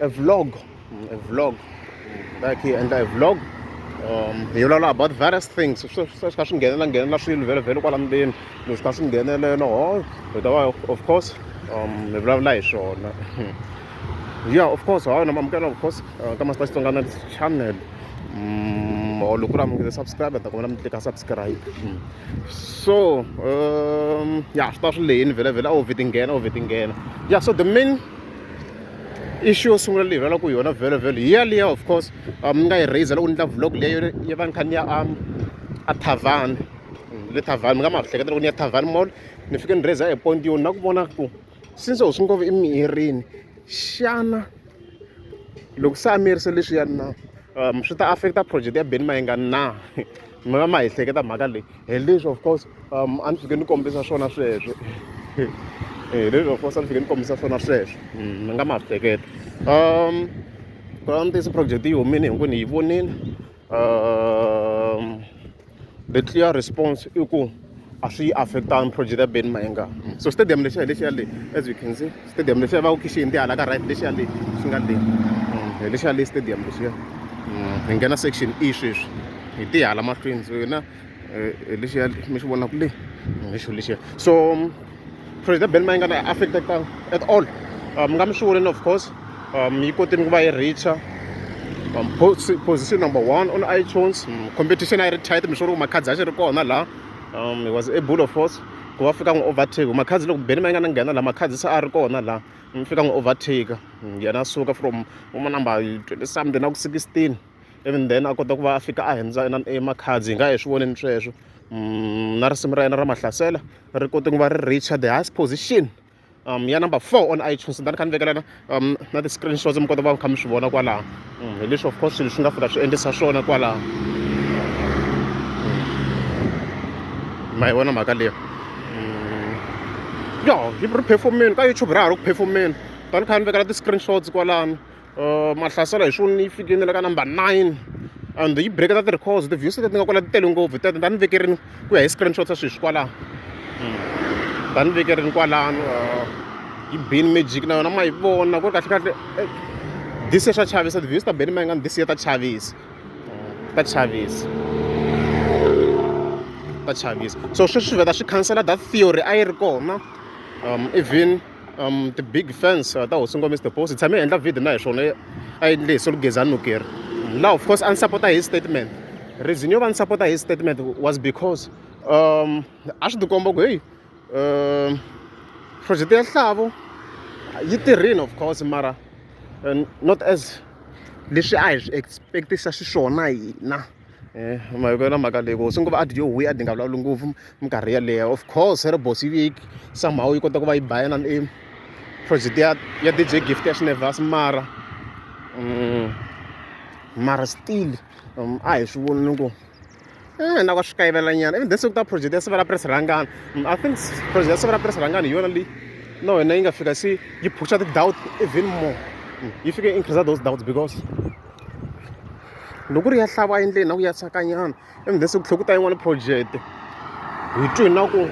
e vlog e vlog like hi endla e vlog um hi vulavula about various things swi kha swi nghenelela nghenelela swilo vhele vhele kwala ndzeni leswi swi kha swi nghenelela ho hi ta va of course um hi vulavula hi swona yeah of course hawa na mamukela of course uh, ka masita xitsongana channel mm, or loko ri amukele subscribe ta kombela mi tlika subscribe mm. so um ya swi ta swi leyini vhele vhele a wu vheti nghena a wu vheti nghena ya so the main issue yo sungula leyi rhwalaka yona vhelo vhelo hi yaliya of course um, ni nga yi raiser loko ni ta vlog leyo yi va ni kha ni ya um, a thavani le thavani mi nga ma hleketa loko ni ya thavani mall ni fike ni raiser epoint yoni na ku vona ku since u swi ngopfu emirini xana loko se a miyerise leswiyani na um swi ta affecta project ya beni mayinga na mi va ma hi hleketa mhaka leyi hi leswi of course um a ni fike ni kombisa swona sweswo hi leswi of course a ni fike ni kombisa swona sweswo mm, mi nga ma swi hleketa um ku lava ntiyiso project yi humile hinkwenu hi yi vonile um the clear response i ku a swi yi affect-angi project ya Benny Mayenga so stadium lexiya hi lexiya le as you can see stadium lexiya va ku khixi hindi hala ka right lexiya le xi nga le mm, hi lexiya le stadium lexiya mm, hi nghena section e sweswi hi ti hala mahlweni so yona eh, hi lexiya mi xi vonaku le mm, hi xo lexiya so president ben mayi nga na affecteka at all um nga mi swi voneni of course um yi kotini ku va yi reacha um, position number one on itunes um, competition a yi ri tight mi swi ri ku makhadzi a xi ri kona laha um he was able of course ku va fika n'wi overtake makhadzi loko beni ma yi nga na nghena laha makhadzi se a ri kona laha mi fika n'wi overtake yena suka from uma number twenty something na ku sixteen even then a kota ku va a fika a hundza emakhadzi hi nga hi swi voneni sweswo na risimu ra yena ra mahlasela ri kote ku va ri reacher the highest position um ya number four on itunes ni kha ni vekela na um na ti-screenshots mi kota ku va mi kha mi swi vona kwalaho mm, hi leswi of course swilo swi nga fika swi endlisa swona kwalaho mm. ma yi vona mhaka leyo mm. yo ri performeni ka youtube ra ha ri ku performeni tani kha ni vekela ti-screenshots kwalano Mahlasela hi swona yi fike na le ka number nine and yi break-a ti-records ti-views leti nga kwala ti tele ngopfu tete ta ni vekerini ku ya hi screenshot swa sweswi kwalano ta ni vekerini kwalano yi bini magic na yona ma yi vona ku ri kahlekahle this year swa chavisa ti-views ta beni ma yi nga ni this year ta chavisa ta chavisa ta chavisa so sweswi swi vheta swi khansela that theory a yi ri kona even um ti-big fans uh, ta hosi ngomisa the boss hi tshame hi endla video na hi swona a yi lehise lugeza nukeri now of course a ni sapota hi statement reason yo va ni sapota hi statement was because um a swi tikomba ku heyi um project ya nhlavo yi tirhini of course mara not as leswi a hi swi expectisa xiswona hina ma hi ku yona mhaka leyi ku swi ngo va adyo huhwi a dyi nga vulavuli ngopfu minkarhi yeleyo of course ri boss yi viki somehow yi kota ku va yi bayana i project ya ya DJ Gift ya Shinevas mara mara still a hi swi voni ni ku eh na ka swi kayivela nyana even this ta project ya Sivela Press Rhangana I think project ya Sivela Press Rhangana hi yona leyi na wena yi nga fika se yi phusha ti-doubt even more yi fike increase those doubts because loko ri ya hlava endleni na ku ya sakanyana ivi then se ku tlhela ku ta yin'wana project hi twi na ku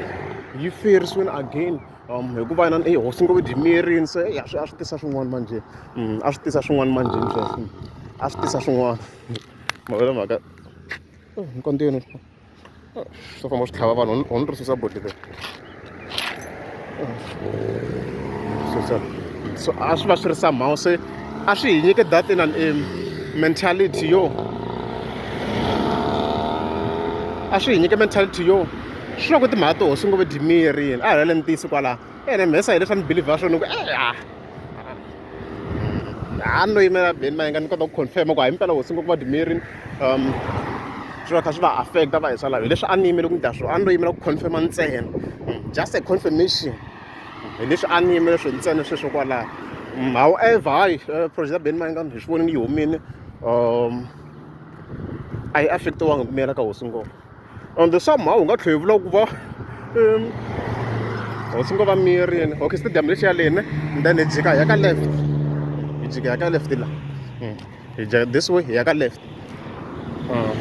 yi ferisiwini again um hikuva na i hosi ngo dyi miyerini se ya swi a swi tisa swin'wana manjhe mm, a swi tisa swin'wana manjheni sweswo a swi tisa swin'wana mavele mhaka oh, nkontiweni swo famba swi tlhava vanhu on ri susa boti leri susa so a swi va swi ri somehow se a swi hi nyike that in an um, mentality yo a swi hi nyike mentality yo swi va ku timhaka to hosi ngo ve dimiyerini a hi lele ni tiyisi kwalaho ene mhesa hi leswi a ni belivha swona ku e-a a ni lo yimela beni ma yinga ni kota ku confirm ku himpela hosi ngopfu vadimiri um swi kha swi va affecta va hi swa lava hi leswi a ni yimele ku ni ta swona a ni lo yimela ku confirma ntsena mm, just a confirmation hi leswi a ni yimele swo ntsena sweswo kwalaho mm, however hayi eh, project ya beni ma yinga hi swi vonini yi humile um a yi affectiwanga ku miyela ka hosi ngopfu and somehow u nga tlhela vula ku va um hosi ngo va miyerini okay stadium lexi ya lene then hi jika hi ya ka left hi jika hi ya ka left la hmm. hi jika this way hi ya ka left ah.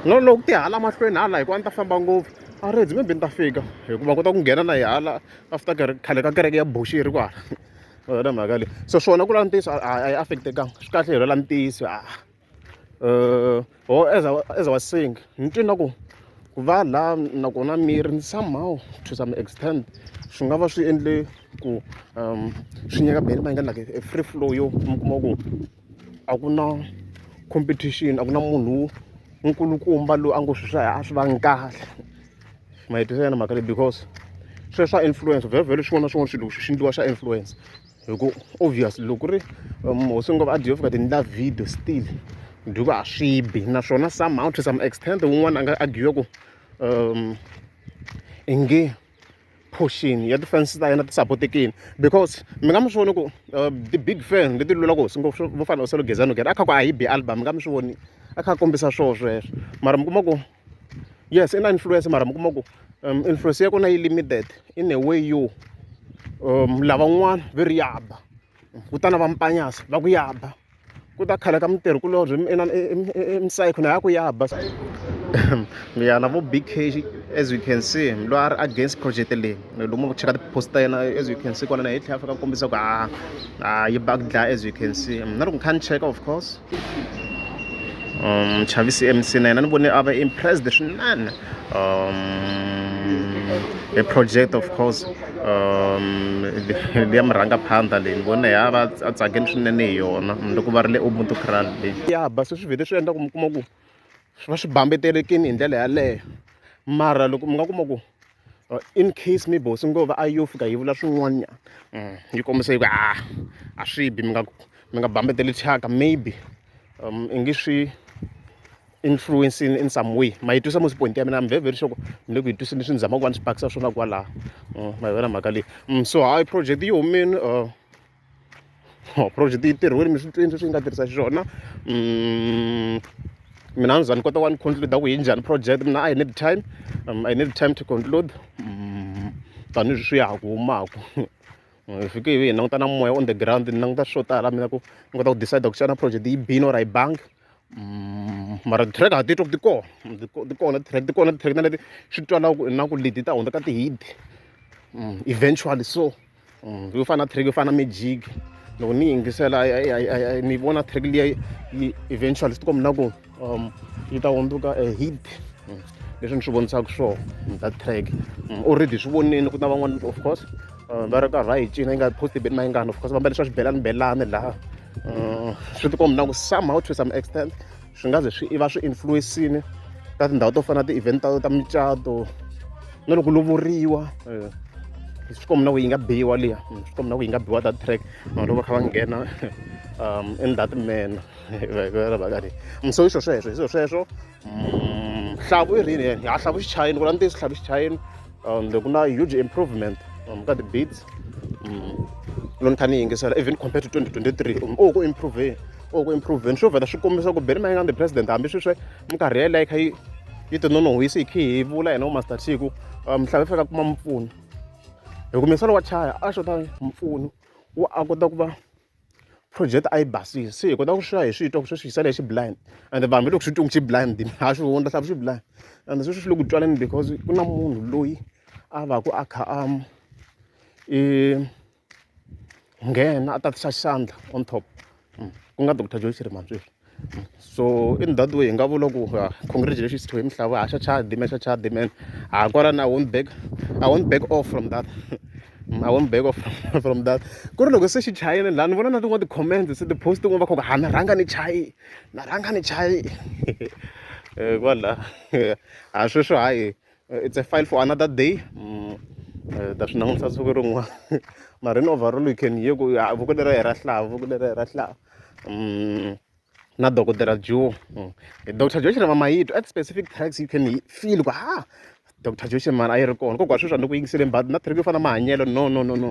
no loko ti hala mahlweni hala hikuva ni ta famba ngopfu a ri dzi maybe ni ta fika hikuva kota ku nghena na hi hala after khale ka kereke ya buxi yi ri kwala mhaka leyi so swona ku la ntiyiso a yi affectekanga swi kahle hi rela ntiyiso a uh, or as I, as I was saying ni twe na ku ku va laha nakona miri ni somehow to some extent swi nga va swi endle ku um swi nyika beni va nga like a free flow yo mi kuma ku a ku na competition a ku na munhu nkulukumba loyi a ngo swi swa a swi vangi kahle ma yi twisela na mhaka leyi because sweswo swa influence vhele vhele swin'wana na swin'wana swilo swi endliwa swa influence hi ku obvious loko ku ri um, hosi ngo va adiof ka ti endla video still duku a swi bi naswona somehow to some extent wun'wana a nga agiwe ku um i nge portion ya ti-fans ta yena ti sapotekini because mi nga mi swi voni ku uh, ti-big fan leti lula ku hosi ngo vo fana u selo gezano gere a kha ku a hi bi album mi nga mi swi voni a kha a kombisa swoo sweswo mara mi kuma ku yes i na influence mara mi kuma ku um, influence ya kona yi limited in a way yo um, lavan'wana ve ri yaba kutana va mpanyasa va ku yaba ku ta khala ka mitirhi kulobye emsayikho na ya ku yaba miyana vo big as you can see loyi a ri against project leyi lomu ku cheka tipost ta yena as you can see kwana na hi tlhela fika ku kombisa ku a ah, a ah, yi bug dlaya as you can see na loko ni kha ni cheka of course um chavisi mc na yena ni vone a va impressed swinene um a project of course um liya murhanga phanda leyi ni vone ya va a tsakeni swinene hi yona loko va ri le ubuntu cral leyi ya basi swi vhele swi endla ku mi kuma ku swi va swi bambetelekini hi ndlela yaleyo mara loko mi nga kuma ku or in case maybe hosi ngo va a yo fika yi vula swin'wanyana mm, yi kombisa yi ku a ah, a swi bi mi nga mi nga bambeteli thyaka maybe um i nge swi influence in, in some way ma yi twisa musi point ya mina i'm very very sure mi le ku yi twiseni swi ni zama ku va ni swi pakisa swona kwalaho mm, ma yi vona mhaka leyi mm, so hi project yi humini uh, or project yi tirhiwile mi swi twini sweswi yi nga tirhisa xiswona mina a ni za ni kota wa ni conclude ku yi njhani project mina i need time um, i need time to conclude um, tanihileswi swi ya ha ku humaka hi fike hi languta na moya on the ground ni languta swo tala mina ku ni kota ku decide ku xana project yi bini or a yi bangi mm, mara ti-track ha titwa ku ti kona ti kona ti-track ti kona ti-track na leti swi twala na ku leti ta hundza ka ti-hit mm, eventually so mm, yo fana na track yo fana na magic loko ni yingisela ni vona track liya yi eventually swi tikomba na ku um yi ta hundzuka a hit mm, leswi ni swi vonisaka swona mm, that track already swi vonile ku na van'wana of course uh, va ri karhi va yi cina yi nga posti beni mayingani of course va mbale swa xibelani belani laha uh, swi tikomba na ku somehow to some extent swi nga ze swi va swi influence-ini ka tindhawu to fana na ti-event ta ta micato na loko lovoriwa eh, swi komi na ku yi nga biwa liya hmm, swi komi na ku yi nga biwa ta track vanhu loko va kha va nghena um in that manner vakani mso i swo sweswo i swo sweswo hmm, hlavu i rini yena ya hlavu xichayini ku la ntiyiso hlavu xichayini um ku na huge improvement um ka ti-beats hmm, loko ni kha ni yingisela even compared to 2023 um o ku improveni or ku improveni swo vheta swi kombisa ku beni mayingani the president hambi sweswi minkarhi yeleyo yi kha yi yi tinonohwisi hi khi hi vula hina umaster chiku um, mhlava fika kuma mpfuno hi ku misalo wa chaya a xota mpfuno wa a kota ku va project a yi basile se hi kota ku swiya hi swi twa ku sweswi hi sale hi xiblind and vanhu va loko swi twi ku xiblind ha swi hundla hlavu xiblind and sweswi swi le ku twaneni because ku na munhu loyi a va ku a kha a um, i nghena a tatisa xandla on top mm. ku nga doctor joyce rimantsweri mm. so in that way hi nga vula ku ah, congratulations to him hlava haxa chadi me xa chadi man ha kwalani i won't back i won't back off from that mm, I won't back off from that. Ku ri loko se xi chayile laha ni vona na tin'wana ti-comments se ti-post tin'wana va khoka ha na rhanga ni chayi na rhanga ni chayi eh, kwala ha sweswo hayi eh, it's a file for another day mm, eh, ta swi langutisa siku rin'wana mara in overall you can hear ku ah, voko lera hi ra hlava voko lera hi ra hlava mm, na dokodela joe mm. eh, dr joe xirema mayito at specific tags you can feel ku ha ah, dr joe xirema a yi ri kona kokwa sweswi a ni ku yingisele mbati na thriki yo fana mahanyelo no no no no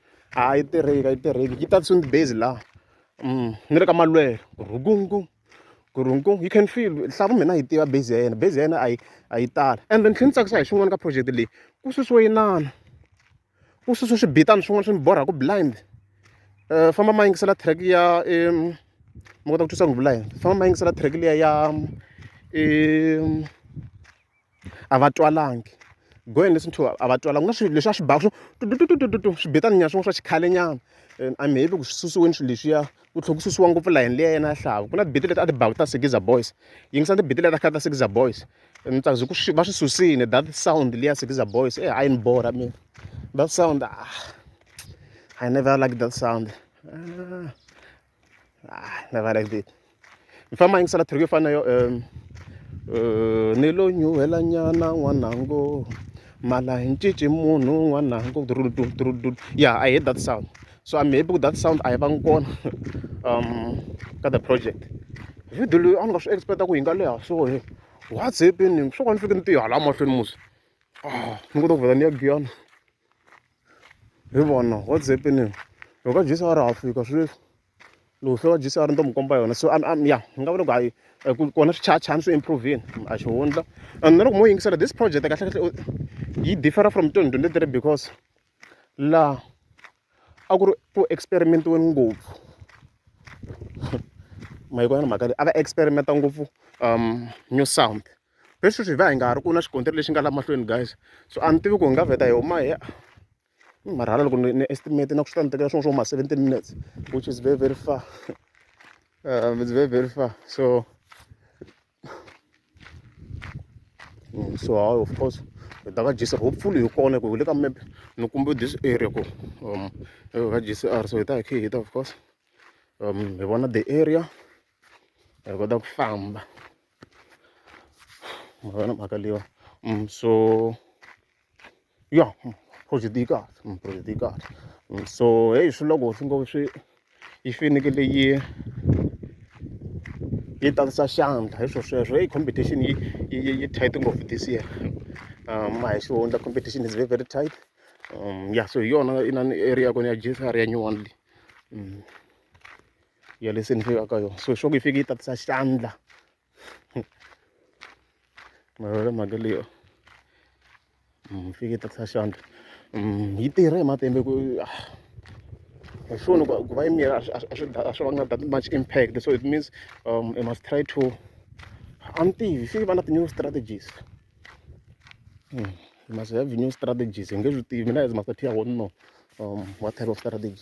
a yi tirheki a yi tirheki yi tatisiwe ni ti-bass laha ni le ka malwelo rhukungkum gurhungkum you can feel nhlampfi mina a yi tiva bass ya yena bass ya yena a yi a yi tala ende ni tlhela ni tsakisa hi swin'wana ka project leyi ku susiwe inana ku susiwe swibitana swin'wana swi ni borhaku blind um famba ma yingisela track ya ma kota ku twisa ku vula yini famba ma yingisela track liya ya i. a va twalangi go and listen to a va twalanga ku na swilo leswi a swi baka swo tututututu swi betana nyana swin'wana swa xikhalenyana and I'm happy ku swi susiweni swilo leswiya ku tlhela ku susiwa ngopfu layeni liya yena ya xihlava ku na tibete leti a ti baka ta Sigiza Boys yingisa tibete leti a khale ta Sigiza Boys and ni tsaka ku swi va swi susile that sound liya Sigiza Boys e a yi ni borha mina that sound ah I never like that sound ah. Ah, never like that. Ni famba yingisela track yo fana na yo um uh, ni lo nyuhela nyana n'wanango mala hi ncinci munhu n'wanango yeah i hate that sound so i'm happy with that sound a yi vangi kona um ka the project video leyi a ni nga swi expecta ku yi nga leha so he what's happening swo ka ni fike ni tihala mahlweni musi ah ni kota ku vhela ni ya giyana hi vona what's happening loko jesi a ri ha fika swi leswi loko se wa jesi a ri ni to mi komba yona so ya ni nga vula ku hayi ku kona swi chachani swi improveni a xi hundla and na loko mo yingisela this project kahlekahle yi differa from twenty twenty three because laha a ku ri ku experimentiweni ngopfu mayiko ya ni mhaka leyi a va experimenta ngopfu um new sound hi sweswi hi va hi nga ha ri ku na xikontiri lexi nga la mahlweni guys so a ni tivi ku hi nga vheta hi huma hi ni marhala loko ni estimate na ku swi ta ni tekela swin'we swo huma seventeen minutes which is very very far um, it's very very far so mm, so hayi of course hi ta ka jc hopefully hi kona ku hi le ka map ni kumbe this area ku um ka jcr so hi ta hi khe hi ta of course um hi vona the area hi kota ku famba magana ba kalliwa um so ya hmm, project yi kahle hmm, project yi kahle hmm, so heyi swi loko swi ngo swi yi fanekele yi yi tatisa xandla hi swo sweswo heyi competition yi yi yi tight ngopfu this year um a hi xihundla competition is very very tight um ya so hi yona inani area ya kona ya gsr ya new one leyi ya leswi ni fikaka yona so swa ku yi fike yi tatisa xandla mavele mhaka leyo mm, yi fike yi tatisa xandla mm, yi tirhe hi matimbe ku ah, hi swona ku va yi mira a swi vanga that much impact so it means um, i must try to a ni tivi fike va na ti-new strategies mm, must have new strategies hi nge swi tivi mina as master tia wonno um, what type of strategy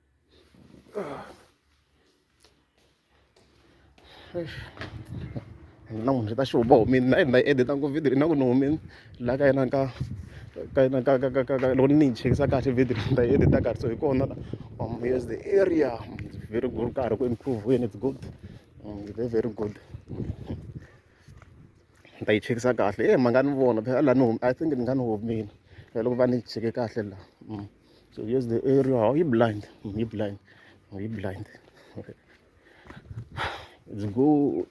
na munhu swi ta xi huma humini na yena na yi edita ngopfu video na ku ni humini laha ka yena ka ka yena ka ka ka ka ka loko ni yi chekisa kahle video ni ta yi edita kahle so hi kona la um yes the area very good karhi ku improve when it's good um, very very good ni ta yi chekisa kahle e ma nga ni vona phela la ni humi i think ni nga ni humini loko va ni cheke kahle la um So here's the area. Are you blind? Are you blind? Are you blind? Okay. It's good.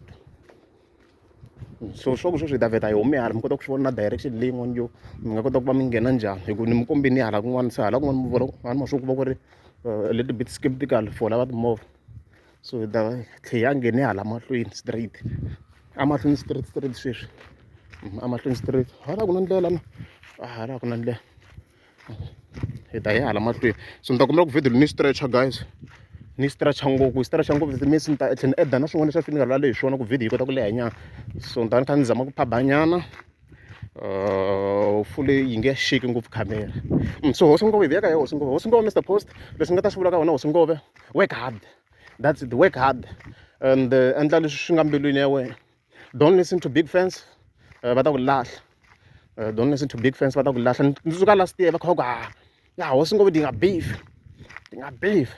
so swa ku sweswi hi ta vheta hi hume hala mi kota ku swi vona na direction leyi n'wana yo mi nga kota ku va mi nghena njhani hi ku ni mi kombini hala kun'wana se hala kun'wana mi vona vanhu ma swi ku va ku ri uh, little bit skeptical for lava timovha so hi ta tlhe ya nghene hala mahlweni straight amahlweni straight straight sweswi amahlweni straight hala ku na ndlela na hala ku na ndlela hi ta hi hala mahlweni so ni ta kombela ku video ni stretcher guys ni stretcher ngopfu yi stretcher ngopfu that means ni ta tlhela ni edda na swin'wana leswi a finikala lale hi swona ku video yi kota ku leha nyana so ni ta ni kha ni zama ku phabanyana Uh, fule yi nge shiki ngopfu camera mm, so hosi ngove veka ya hosi ngove hosi ngove mr post leswi nga ta swi vula ka wena hosi ngove work hard that's it work hard and uh, endla leswi swi nga mbilwini ya wena don't listen to big fans eh, va ta ku lahla eh, don't listen to big fans va ta ku lahla ndzi suka last year va kha va ku ha ah, ya hosi ngo dinga beef dinga beef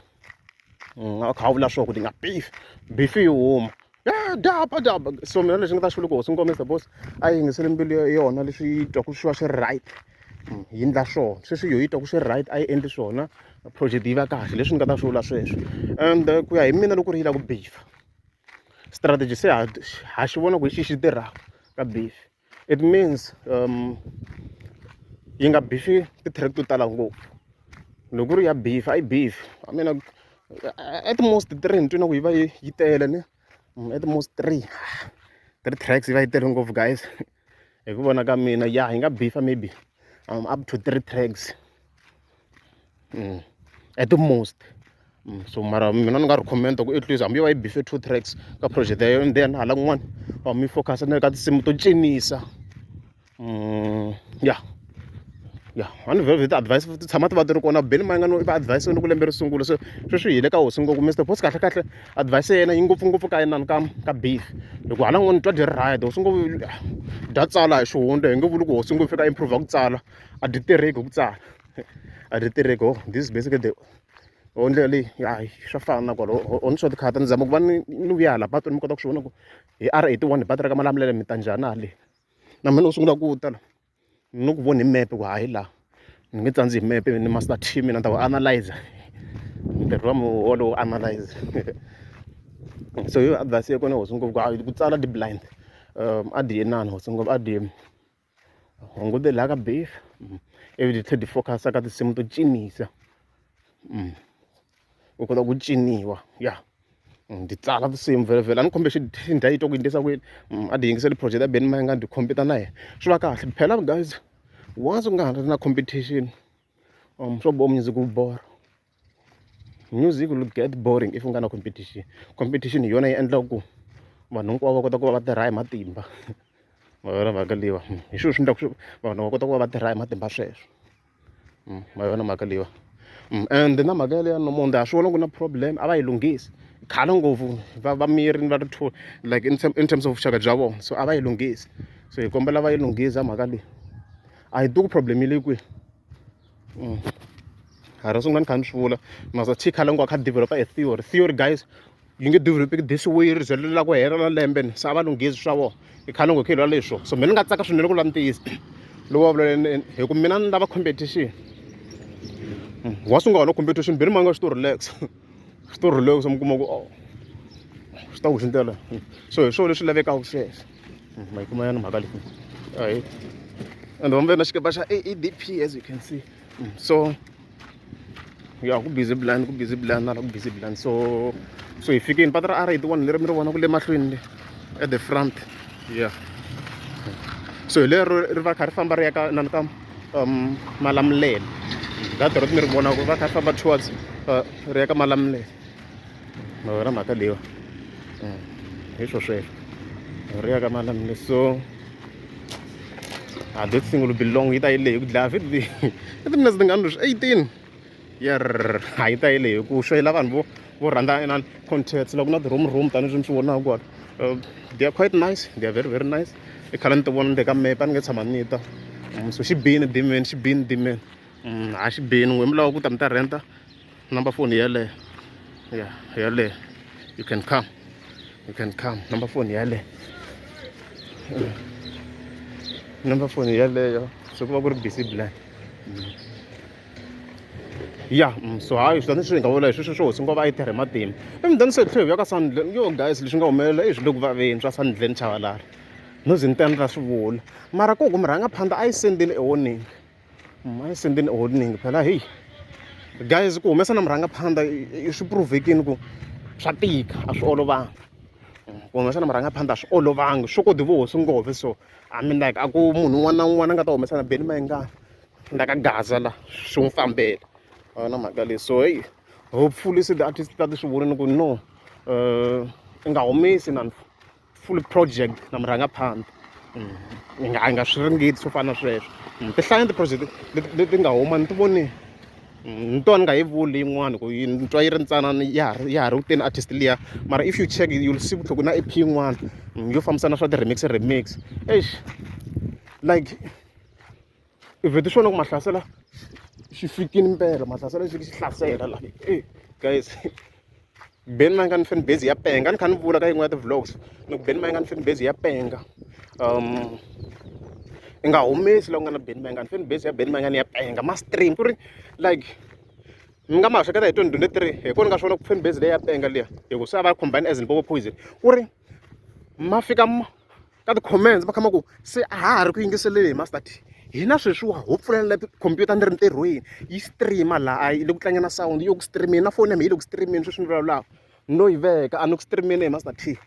mm, a kha vula swo ku dinga beef beef yi huma ya daba daba so mina lexi nga ta xi vula ku hosi nkomisa boss a yi yingisele mbilu ya yona leswi yi twa ku swi va swi ri right mm, yi ndla swona sweswi yo yi twa ku swi ri right a yi endli swona project yi va kahle leswi ni nga ta swi vula sweswo and eh, ku ya hi mina loko ri yi la ku beef strategy se ha ha xi vona ku hi xihi xi tirhaka ka beef it means yi nga bifi ti-track to tala ngopfu loko ku ri ya beef a yi beef I mean at most three ni twi na ku yi va yi yi tele ni at most three three tracks yi va yi tele ngopfu guys hi ku vona ka mina ya yi nga beef maybe up to three tracks. mm. at the most mm. so mara mina ni nga ri commenta ku at least hambi yo va yi bife two tracks ka project yayo and then hala kun'wana va mi focus ni le ka tinsimu to cinisa mm, ya ya one very very advice ti tshama ti va ti ri kona beni ma nga no va advice ni ku lembe ri sungula so sweswi hile ka hosi ngopfu mr boss kahle kahle advice ya yena yi ngopfungopfu ka yinani ka ka beef hikuva hala n'wana twa dyi ri ride hosi ngopfu dya tsala hi xihundla hi nge vuli ku hosi ngopfu fika improve ku tsala a dyi tirheki hi ku tsala a ri tirheki ho this is basically the ho ndlela leyi hayi swa fana na kwalo ho ni swa tikhata ni zama ku va ni ni vuya hala patwini mi kota ku swi vona ku hi r eighty one hi patara ka malamulele mi ta njhani a le na mina ni sungula ku ta la ni ni ku voni hi mepe ku hayi laha ni nge tsandzi hi mepe ni master team mina ni ta ku analyzer ntirho wa mi wolowo analyze so yo advice ya kona hosi ngopfu ku tsala di blind um a di ye nani hosi ngopfu a di hungutela ka beef mm. ivi ti tlhe ti focus-a ka tinsimu to cinisa mm. u kota ku ciniwa ya mm, ndzi tsala tinsimu vhelavhela a ni khombe xindha yi to ku yindlisa kwini mm, a ti yingiseli project ya beni mayinga ndzi khompita na yena swi va kahle phela guys once u nga ha ri na competition um swo bo music wu bora music will get boring if u nga na competition competition hi yona yi endlaka ku vanhu hinkwavo va kota ku va va tirha hi matimba ma yona mhaka leyiwa hmm, hi swilo swi endlaka swi vanhu va kota ku va va tirha hi matimba sweswo hmm, ma yona mhaka leyiwa hmm, and na mhaka yaleya nomonde a swi vona ku na problem a va yi lunghisi khale ngopfu va va miri ni va ri two like in, in terms of vuxaka bya vona so a va yi lunghisi so hi kombela va yi lunghisa mhaka leyi a yi duku problem yi le kwihi A ro sungula ni kha ni swi vula must have Tikhala loko a kha a develop-a e theory theory guys yi nge develop-eki this way ri ze ri lava ku hela na lembe ni se a va lunghezi swa vona i khale ni ngo khilwa leswo so mina ni nga tsaka swinene ku lava ntiyiso lowu va vulele hi ku mina ni lava competition wa sungula wona competition beni ma nga swi to relax swi to rhuleka se mi kuma ku oh, swi ta ku hindela so hi swona leswi lavekaka sweswo hmm, ma yi kuma yana mhaka leyi ahi and vambe na xikepa xa aadp as you can see hmm, so ya ku busy blind ku busy blind na ku busy blind so so hi fikini pata ra r one leri mi ri vona ku le mahlweni le at the front yeah so hi lero ri va kha ri famba ri ya ka nani ka um malamulele data ro mi ri vona ku va kha famba towards uh, ri ya ka malamulele mavona mhaka leyiwa mm, hi swo sweswo ri ya ka malamulele so a ah, this thing will be long yi ta yi leyi ku dlaya vhidi leyi i timinetse tingani leswi eighteen yer a yi tayele hi ku swo yi la vanhu vo vo rhandza inani contacts loko na ti-room room tanihileswi mi swi vonaka kwala um they are quite nice they are very very nice i khale ni ti vona ni le ka mepe a ni nge tshama ni ta um so xi bini dimeni xi bini dimeni um a xi bini n'we mi lava ku ta mi ta renta number phone yeleyo ya yeleyo you can come you can come number phone yeleyo number phone yeleyo swi ku va ku ri busy blind ya mm, so hayi swi ta ni swi nga vula hi sweswo swo hosi ngo va yi tirhe matimba emudani se hi tlhelo hi ya ka sandlen yo guys leswi nga humelela i swi le ku vaveni swa sandlen chavalala no ze ni ta ni ra swi vula mara ku ku mi rhanga phanda a yi sendini ewoningi mm, a yi sendini ewoningi phela heyi guys ku humesa na murhanga phanda swi provekini ku swa tika a swi olovanga mm, ku humesa na murhanga phanda a swi olovanga swo kodi vo hosi ngove so i mean like a ku munhu un'wana na un'wana a nga ta humesa na beni mayingani na ka gaza la swi n'wi fambela a va na mhaka leyi so heyi hopefully se ti-artist ta ti swi vonile ku no um i nga humesi na full project na mi rhanga phambili hi nga hi nga swi ringeti swo fana na sweswo ti hlaya ti-project leti nga huma ni ti vonile ni twa ni nga yi vuli yin'wana ku yi ni twa yi ri ntsanana ya ha ri ya ha ri kuteni artist liya mara if you check you'll see ku tlhoko na ep yin'wana yo fambisana swa ti-remix remix eish like i vhete xona ku mahlasela xi fikini mpela mahlasela xi xi hlasela la e guys ben ma nga ni fan base ya penga ni kha ni vula ka yin'we ya ti-vlogs ni ku ben ma nga ni fan base ya penga um i nga humesi la ku nga na ben mangan fan base ya ben mangan ya penga ma stream ku ri like mi nga ma hleketa hi 2023 hi kona nga swona ku fan base leyi ya penga liya hi ku se a va combine as ni popo poison ku ri ma fika ka ti-comments va khama ku se a ha ha ri ku yingiseleni hi master t hina sweswiwa ho pfulela khompyuta ni ri ntirhweni yi streama laha a yi le ku tlangeni na sound yi le ku streameni na foni ya mina yi le ku streameni sweswi ni vulavulaka no yi veka a ni ku streameni hi master t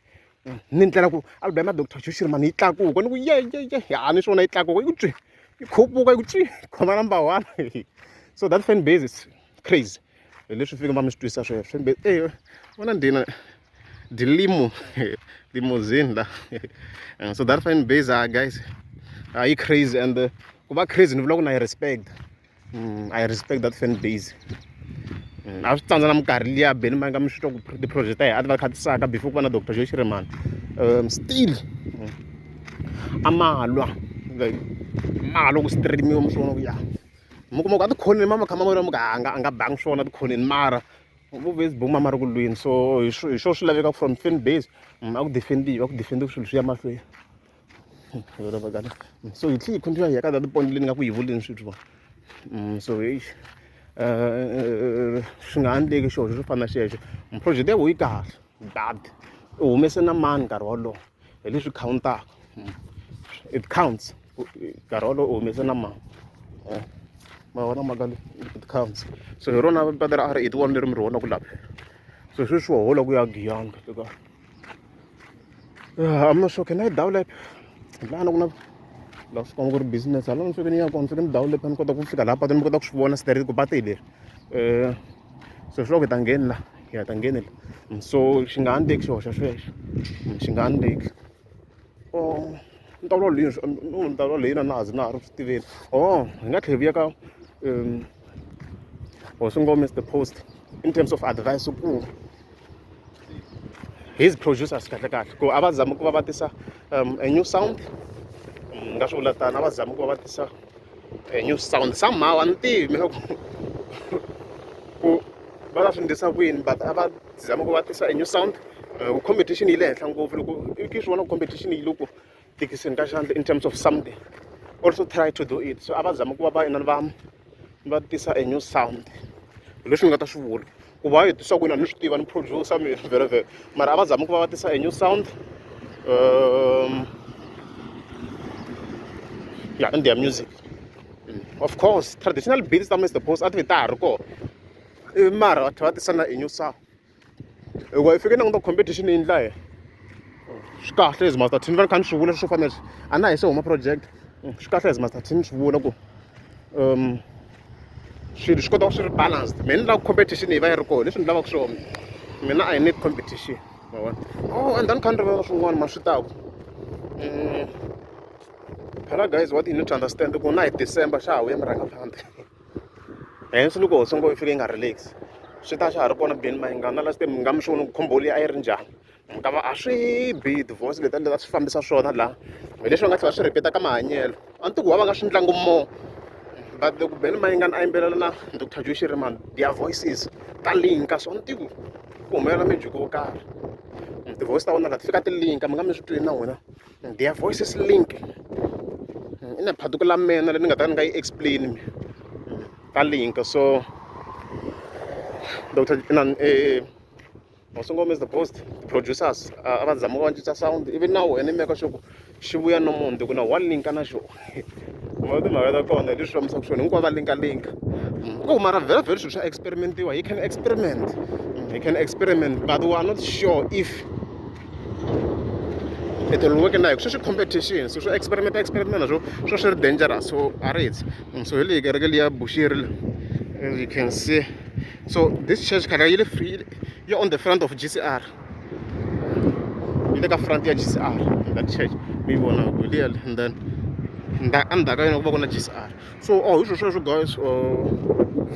ni ndlela ku album ya doctor joshiri mani yi tlakuka ni ku yeyeye ha ni swona yi tlakuka yi ku twi yi khupuka yi ku twi khoma number one so that fan base is crazy hi leswi fika va mi swi twisa sweswo mbe e vona ndina dilimo limousine la eh, so that fine base ah guys are you crazy and uh, ku va crazy ni vula ku na yi respect mm, i respect that fan base mm, a swi tsandza na minkarhi liya beni ma nga mi swi twa ku ti-project ta hi a ti va khatisaka before ku va na doctor joe xiremani um still mm, a malwa like malwa ku streamiwa mi swi vona ku ya mi kuma ku a tikhoneni mama kha mama muka a nga a nga bangi swona tikhoneni mara vu Facebook mama ri ku lwini so hi swo hi swo swi laveka from fan base mm, a ku defendiwa a ku defendiwa swilo swi ya mahlweni mm, so hi tlhe hi continue hi ya ka that point leyi ni nga ku yi vuleni swithu va mm, so hi eh, eh, eh, swi nga endleki xona swo fana na xexo project ya ku yi kahle bad u humese na mani nkarhi wolowo hi leswi khawuntaka it counts nkarhi wolowo u humese na mali eh, ma vona mhaka leyi it counts so hi rona pata ra r eight one leri mi ri vona ku laphela so sweswi wa hola ku ya giyani kahle kahle ah, i'm not sure can i download lana ku na la swi komba ku ri business hala ni fike ni ya kona fike ni download ni kota ku fika laha patini ni kota ku swi vona straight ku pate hi leri um so swi loko hi ta ngheni la hi nga ta ngheni la so xi nga ha ni teki xihoxo xexo xi nga ha ni teki or ni ta vulavula hi yini no ni ta vulavula hi yini na ha ze na ha ri ku swi tiveni or hi nga tlhela hi vuya ka hosi ngome is the post in terms of advice ku his producers kahle kahle ku a va zami ku va va tisa a new sound ni nga swi vula tano a va zami ku va va tisa eh, new sound somehow a ni tivi mina ku ku va ta swi ndlisa ku yini but a va zama ku va tisa a new sound eh, ku competition yi le henhla ngopfu loko i ke swi vona ku competition yi loko tikiseni ka xandla in terms of something also try to do it so a va zama ku va va inani va va tisa a new sound hi leswi ni nga ta swi vula ku va hetisa kwini a ni swi tiva ni producer mi vheravhere mara a va zami ku va va tisa a new sound um, ya in their music mm. of course traditional beats ta mr post a ti ve ta ha ri kona eh, mara va tlhela va tisa na a new sound hikuva hi fike nanguta competition yi ndla yena swi kahle as master team va ni kha ni swi vula swo fana leswi a na hi se huma project mm, swi kahle as master team ni swi vula ku um swilo swi kota ku swi ri balanced me ni lava competition yi va yi ri kona leswi ni lavaka swona mina i need competition ma vona oh and then kha ni rivala swin'wana ma swi taku mm. phela guys what you need to understand ku na hi december xa ha vuya mi rhanga phanda hence loko ho songo yi fika yi nga relax swi ta xa ha ri kona beni mayingana last time mi nga mi xi vona ku khomboli a yi ri njhani Ka va a swi bi divorce leti endlela swi fambisa swona laha hi leswi va nga tlhela swi rhipeta ka mahanyelo a ni tiku va va nga swi ndlangu mo but loko beni mayingani a yimbelela na dr joy shirimani their voices ta linka so a ni tiku ku humelela mejuku wo karhi tivoice ta vona la ti fika ti linka mi nga mi swi twini na n'wina their voices link i na phatuku la mina leyi ni nga ta ni nga yi explain mi ta linka so dr or single miss the post producers a va zama va cinca sound ivi na wena meka sure ku xi vuya no munhu ti ku na wa linka na xona ma timhaka ta kona leswi fambisaka swona hinkwavo va linka linka mm, ku mara vhela vhela swilo swa experimentiwa you can experiment mm, you can experiment but we are not sure if it will work na hi sweswi competition so swo experiment experiment na swo swo swi ri dangerous so a ri heti mm, so hi leyi kereke liya bushiri you can see so this church khale yi le free yi on the front of gcr yi le ka front ya gcr that church mi yi vona ku liya and then endzhaku ka yona ku va ku na gcr so o oh, hi swo sweswo guys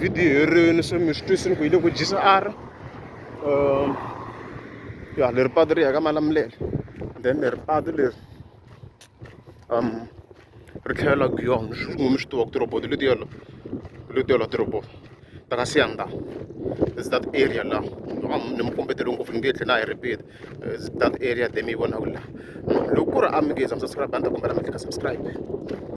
video herini se mi swi twisini ku yi le ku gcr um ya leri patu ri ya ka malamulele then leri patu leri um ri tlhela ri laha mi swi tiva ku ti-robot letiya la letiya la ti-robot ta ka Siyanda it's that area la ni mi kombetele ngopfu ni nge tlhela na yi repeat it's that area there mi yi vonaka la loko ku ri a mi nge za mi subscribe a ni ta kombela mi tlhela subscribe.